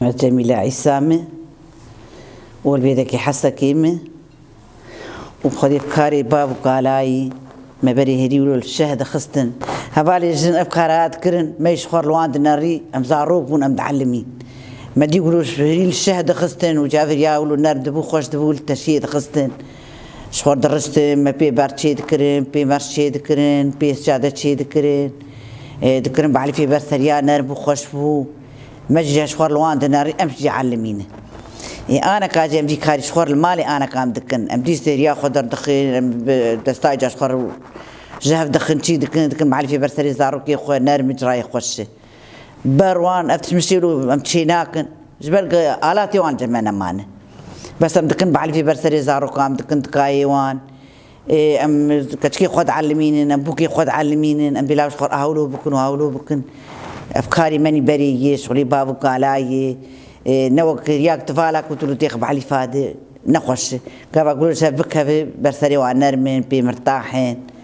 Ez Cemîle Îsa me, olbêdekî Hesekê me û bi xwedê bi karê bav û kalayî me berê herî û li şeh dixistin. Hevalên jin ev kara dikirin, me jî ji xwe riwandine rî, em zarok bûn, em dielimîn. Me dî û ji herî li şeh dixistin û cavêrî ya û nerm dibû, xweş dibû li teşiyê dixistin. Ji xwe diristin, me pê berç çêdikirin, pê merc çêdikirin, pê sicade çêdikirin. Dikirin bi elîfê ber seriya nerm bû, xweş bû. Me jî ji xwe li wan dinerîn, em jî dielimînin. Ê aneka jî em jî karî ji xwe li malê anekan dikin. Em jî seriya xwe derdixin, em bi destayê ji xwe re ji hev dixin, çî dikin, dikin bi elîfê ber serê zarokê xwe, nerm in, cihayê xweş in. Ber wan ev tişt mişîr û em çî nakin ji ber ku alatê wan cem me nemane. Bes em dikin bielfî ber serê zarokan em dikin dikayê wan. Ê em keçikê xwe dielimînin, em bûkê xwe dielimînin, em bîlav ji xwe re hewlo bikin û hewlo bikin. Ev karê me nî berê yê, şixulî bav û kala yê. Ê ne wek riya ku tu vala ku tu li têxi bielîfa di ne xweş e. Gava ku li ser bikevê ber serê wan nerm in, pê mirtax in.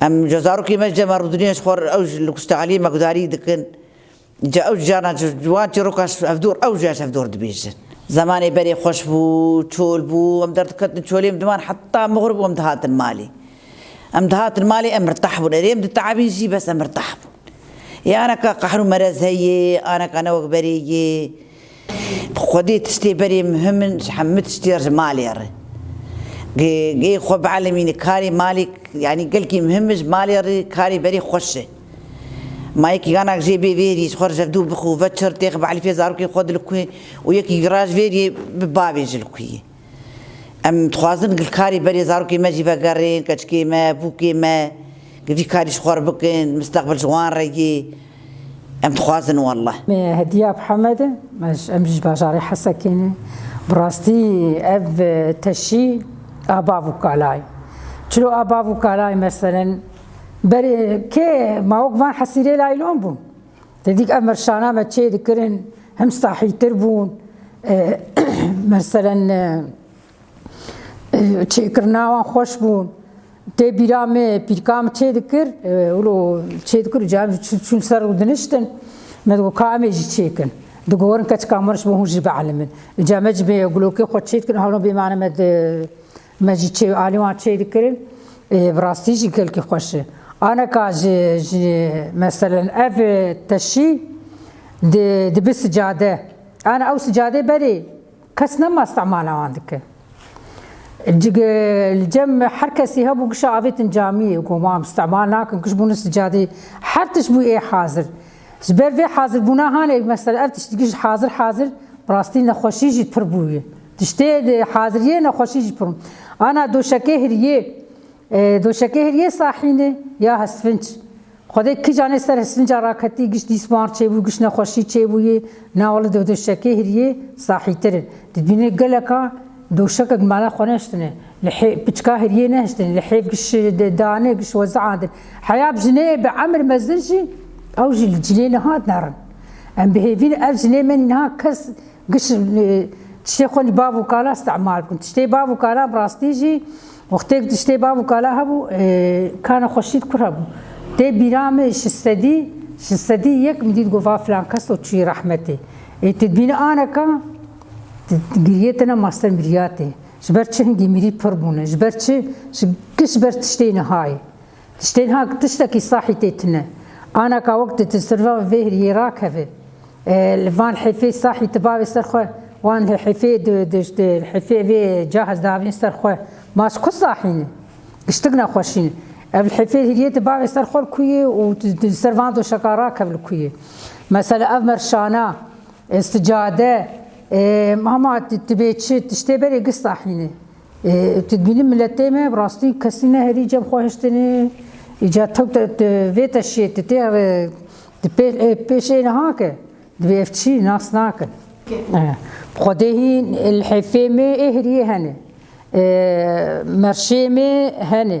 Em ji zarokê me ji dema Rûdinîya ji xwe re ew ji Luksta Elî Mekdarî dikin. Ca ew canan ji wan çîrokan ji hevdor ew jî ji hevdor dibêjin. Zemanê berê xweş bû, çol bû, em derdiketin çolê em diman heta mixur bû em dihatin malê. Em dihatin malê em mirtah bûn. Erê em dite'ebîn jî bes em mirtah bûn. Ê aneka qehr û merez heye, aneka ne wek berê ye. Xwedê tiştê berê muhim in ji hemû tiştê re ji malê re. Gê xwe bielemînî karê malê yanî gelkî muhim in ji malê re karê berê xweş e. Ma yekî ganak jê bê vêrî ji xwe re jevdû bixwe ve çir têxi bielîfê zarokê xwe di li ku ye û yekî ra ji vêrî bi bavê ji li ku ye. Em dixwazin gilkarî berê zarokên me jî vegerên, keçikê me, bûkê me ku vî karî ji xwe re bikin, misteqbil ji wan re yê. Em dixwazin welleh. Me hediya bi Hemed e. Em jî ji bajarê Hesekê ne. Bi rastî ev teşî a bav û kala ye. Çilo a bav û kala ye meselen berê kê mawok van Hesîrê laylon bûn. Tedîk ev merşana me çê dikirin him sahîtir bûn merselen çêkirina wan xweş bûn. Tê bîra me pîrka min çê dikir wilo çê dikir û cem çûn ser û diniştin me digot ka em ê jî çêkin. Digorin keçika min ji bo hûn jî bielimin. Ca me ji bê gulokê xwe çê dikirin hewlin bêmane me di Me jî çê û alî wan çê dikirin. Bi rastî jî gelkî xweş e. Aneka ji ji meselen ev teşî di dibi sicade. Ana ew sicadê berê kes nema istimala wan dike. Cik li cem her kesî hebû kişa avêtin camiyê ku wan istimal nakin kiş bûne sicadê. Her tişt bû ê hazir. Ji ber vê hazirbûna hanê mesela ev tişt dikî ji hazir hazir bi rastî nexweşî jî pir bûye. Tiştê di haziriyê nexweşî jî pir. Ana doşekê hiriyê, doşekê hiriyê sahînê ya hisvinc. Xwedê kij anê ser hisvinca raketî, giş dîsmar çêbû, giş nexweşî çêbûyê, na wele di doşekê hiriyê sahîtir e. Dibînê geleka doşekek mala xwe nehiştine, li hê piçka hiriyê nehiştine, li hêv giş danê, giş weze andin. Heya bi jineyê bi emir mezin jî ew jî li cilê niha derin. Em bihêvîn ev jinê menî niha kes Giş tiştê xwe li bav û kala istimar bûn. Tiştê bav û kala bi rastî jî wextêk tiştê bav û kala hebû kana xwe şît kur hebû. Tê bîra me şistedî şistedî yek min dît got va filan kes to çûyî rehmetê. Ê tu dibînî aneka giriyê te ne master miriyatê. Ji ber çi hingî mirî pir bûne? Ji ber çi? Giş ber tiştê nihayê. Tiştên hak tiştekî sahî tê tune. Ana ka wek tu di sirvan vê hiriyê rakeve li van hêfê sahî tu bavê ser xwe wan li hêfê di di di li hêfê vê cah ez davîn ser xwe ma ji ku sahî ne. Tiştik nexweşî ne. Ev li hêfê hiriyê tu bavê ser xwe li ku yê û tu di ser van doşeka rakev li ku yê. Mesela ev merşana, sicade, hema tu tu bê çi tiştê berê giş sahî ne. Tu dibînî miletê me bi rastî kesî ne herî cem xwe hiştinî îca tewte vê te şiyê tu tê pêşê niha ke divê ev çî nas nakin. Xwedêhî lhêfê me ê heriyê henê merşê me henê.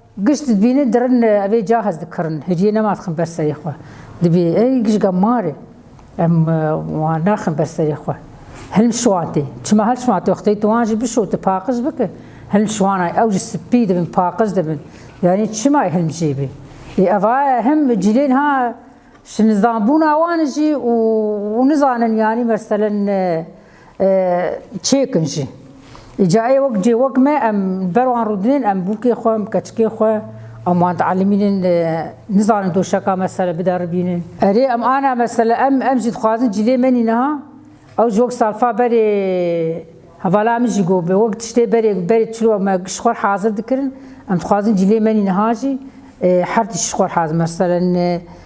Giş dibîne dirin evê ca hez dikirin. Hiciyê nema dixin ber serê xwe. Dibî ey gişga marê. Em wan naxin ber serê xwe. Hilm şiwatê. Çima hel şiwatê xteyê tu wan jî bişo tu paqij bike. Hilm şiwanay ew jî spî dibin paqij dibin. Yanî çima ê hilm jê bê. Ê eva hem cilên ha şinizanbûna wan jî û nizanin yanî meselen Çêkin jî. Îca ê wek cê wek me em ber wan rûdinên em bûkê xwe em keçikê xwe em wan dielîmînin nizanin doşeka mesele bideribînin. Erê em ana mesele em em jî dixwazin cilê me nî niha ew ji wek salfa berê hevala min jî got bi wek tiştê berê berê çilo me ji xwe hazir dikirin em dixwazin cilê me nî niha jî her tişt ji xwe hazir meselen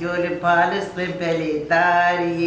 Dori palis bi belê darî.